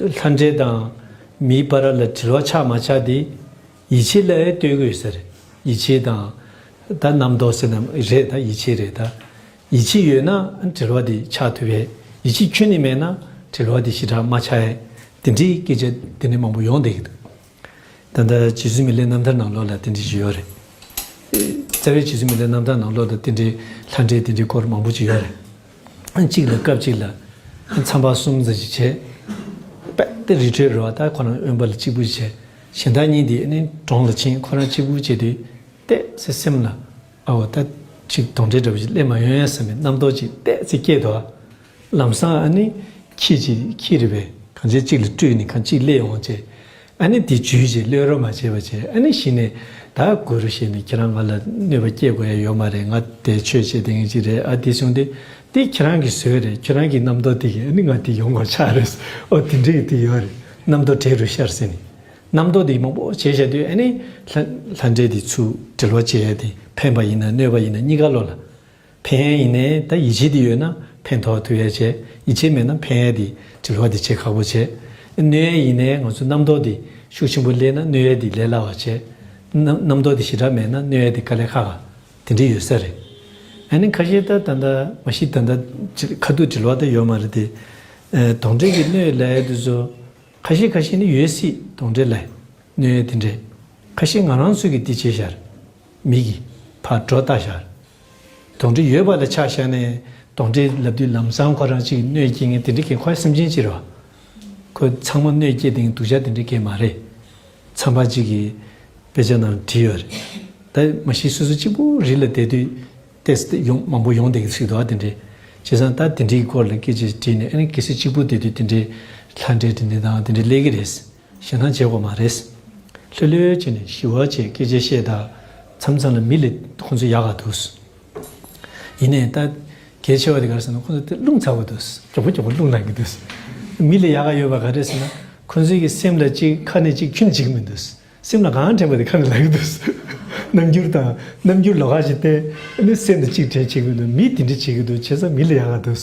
ལྷ་འདྲེ་དང། མིའི་པ་ར་ལ་དྲིལ་བ་ཆགས་མ་ཆགས་དེ། ཡིད་ཆེས་ལ་ཨེ་ལྟོས་གོས་ཟེར། ཡིད་ཆེས་དང། ད་རྣམ་རྟོག་ཟེར་ནམ་རེད་ད་ཡིད་ཆེས་རེད་ད། ཡིད་ཆེས་ཡོད་ན་དྲིལ་བ་དེ་ཆགས་ཐུབ་ཨེ། ཡིད་ཆེས་ཁྱོན་ནས་མེད་ན་དྲིལ་བ་དེ་ཞི་དྲག་མ་ཆགས་ཨེ། དེ་འདྲའི་སྐད་ཆ་དེ་འདྲའི་མང་པོ་ཡོང་བསྡད་ཀྱི་འདུག། ད་ལྟ་རྗེ་བཙུན་མི་ལའི་རྣམ་ཐར་ནང་ལོགས་ལ་དེ་འདྲའི་ཞིག་ཡོད་རེད། རྩ་བའི་རྗེ་བཙུན་མི་ལའི་རྣམ་ཐར་ནང་ལོགས་ལ་དེ་འདྲའི་ལྷ་འདྲེ་དེ་འདྲའི་སྐོར་མང་པོ་ཅིག་ཡོད་རེད། གཅིག་ལ་སྐབས་གཅིག་ལ་མཚམས་པ་གསུམ་ཙམ་ཞིག་བྱས། དཔལ་རི་ཁྲོད་རོལ་བ་དག་ཁོ་རང་དབེན་པ་ལ་གཅིག་པུ་ཞིག་བྱས། གཞན་དག་གཉིས་དེ་ནི་གྲོང་ལ་ཕྱིན་ཁོ་རང་གཅིག་པུ་བྱས་ཏེ་བལྟས་ཚེ་སེམས་ལ། ཨའོ་ད་ཅིག་གདོན་འདྲེ་འདྲ་བོ་ཞིག་སླེབས་མ་ཡོང་ཡ་བསམ་པའི་རྣམ་རྟོག་ཅིག་བལྟས་ཚེ་སྐྱེས་འདུག་ཨ། ལམ་སང་ཨ་ནི། ཁྱེད་ཀྱིས་ཁྱེད་རི་བའི་གངས་ཅན་གཅིག་ལ་སྤྲུལ་ནས་གངས་གཅིག་སླེ་འོང་ཅེས། ཨ་ནི་དེ་བརྗོད་ཅེས་གློད་རོགས་མ་བྱེད་པ་ཅེས་ཨ་ནི་གཞི་ནས་ད་དགོས་རོ་ཞེས་ནས་ཁྱེད་རང་ང་ལ་གནོད་པ་སྐྱེལ་དགོས་ཡ་ཡོད་མ་རེད་ང་དེ་ཆོས་བྱེད་དེ་ངན་གཅིག་རེད་ཨ་དེ་བྱུང་སྟེ་དེ་ཁྱེད་རང་གི་ཟོལ་རེད་ཁྱོད་རང་གི་རྣམ་རྟོག་དེ་གིས་ཨ་ནི་ང་དེ་ཡོང་དགོས་ཆགས་རེད་ཨོ་དེ་འདྲའི་དེ་ཡོད་རེད་རྣམ་རྟོག་གྲལ་རུ་ཤར་ཟིན་ནས། རྣམ་རྟོག་དེ་མང་པོ་བྱས་བྱས་དུས་ཨ་ནི། ལྷ་འདྲེ་དེ་ཚུར་དྲིལ་བ་བྱས་ཏེ་ཕན་པ་ཡིན་ན་གནོད་པ་ཡིན་ན་གཉིས་ཀ་བློ་ལ། ཕན་ཡིན་ནའི་ད་ཡིད་ཆེས་དེ་ཡོད་ན་ཕན་ཐོག་དེ་བས་བྱེད་ཡིད་ཆེས་མེད་ན་ཕན་ཡས་དེ་དྲི་ལྷོག་དེ་བྱེད་ཁག་པོ་བྱེད། གནོད་ཡས་ཡིན་ནའི་ང་ཚོ་རྣམ་རྟོག་དེ་ཤུགས་ཆེན་པོ་སླེས་ན་གནོད་ཡས་དེ་ལས་སླ་བ་བྱེད། རྣམ་རྟོག་དེ་ཞི་དྲག་མེད་ན་གནོད་ཡས་དེ་དཀའ་ལས་ཁག་ཁག་དེ་འདྲས་ཡོད་ས་རེད། ཨ་ནི་ཁ་ཤས་ད་ད་ད་མ་ཤི་ད་ད་ཁ་ཐུག་དྲི་ལྷོག་ད་ཡོད་མ་རེད་དེ། དོགས་འདྲེ་གི་གནོད་ཡས་ལས་ཡས་དེ་བཟོ། ཁ་ཤས་ཁ་ཤས་ནི་ཡོད་སྲིད་དོགས་འདྲེ་ལས་གནོད་ཡས་དེ་འདྲས། ཁ་ཤས་ང་རང་ཚོས་གི་དེ་བྱས་ཤར། མིག་གིས་ཕར་སྒྲོ་བཏགས་བཞག། དོང་གྲི་ཡོད་པ་ལ་ཆགས་བཞག་ནས་དོང་གྲི་ལབ་དུས་ལམ་སང་ཁོ་རང་ཅིག་གནོད་སྐྱེལ་ངེས་དེ་འདྲི་གས་ཁོ་ཡང་སེམས་ཅན་ཅི་རེད་བ། ཁོ་ཚང་མ་གནོད་སྐྱེལ་དེ་ངས་དུག་ཆ་དེ་འདྲི་གས་མ་རེད། ཚངས་པ་ཅིག་གིས་དཔེ་ཆ་ནང་བྲིས་ཡོད་རེད། ད་མ་ཤི་སོ་སོ་གཅིག་པུ་རི་ལ་བསྡད་དུས་ཏེས་ཏེ་ཡོང་མང་པོ་ཡོང་བསྡད་གི་ཚིག་དོག་དེ་འདྲི། བྱས་ཙང་ད་དེ་འདྲི་གི་སྐོར་ལ་སྐད་ཆ་ཞིག་དྲིས་ནས་ཨ་ནི་གལ་སྲིད་གཅིག་པུ་བསྡད་དུས་དེ་འདྲི་ལྷ་འདྲེ་དེ་འདྲི་དང་དེ་འདྲི་ལས་གི་རེད། ཞེ་སྣང་བྱེད་དགོས་མ་རེད། ལྷོད་ལྷོད་བྱས་ནས་ཞི་བ་བཅས་སྐད་ཆ་བཤད་དང་མཚམས་མཚམས་ལ་མི་ལས་ཁོང་ཚོ་ཡག་ག་འདུག། ཡིན་ནས་ད་གལ་ཆེ་བ་དེ་གར་སོང་ན་ཁོང་ཚོ་དེ་རླུང་ཚ་བོ་འདུག། གྱོག་པོ་གྱོག་པོ་རླུང་ལངས་ཀྱི་འདུག། མི་ལས་ཡག་ག་ཡོད་པ་ག་རེད་ཟེར་ན་ཁོང་ཚོའི་གི་སེམས་ལ་གཅིག་ཁ་ནས་གཅིག་ཁྱུད་ནས་གཅིག་གི་མི་འདུག། སེམས་ལ་གང་དྲན་པ་དེ་ཁ་ནས་ལབ་ཀྱི་འདུག། རྣམ་འགྱུར་དང་རྣམ་འགྱུར་ལ་ག་ཞིག་བསྟན། སེམས་ལ་གཅིག་དྲན་བྱེད་ཀྱི་འདུག་མིས་དེ་འདྲ་བྱེད་ཀྱི་འདུག་བྱས་ཙང་མི་ལས་ཡག་ག་འདུག།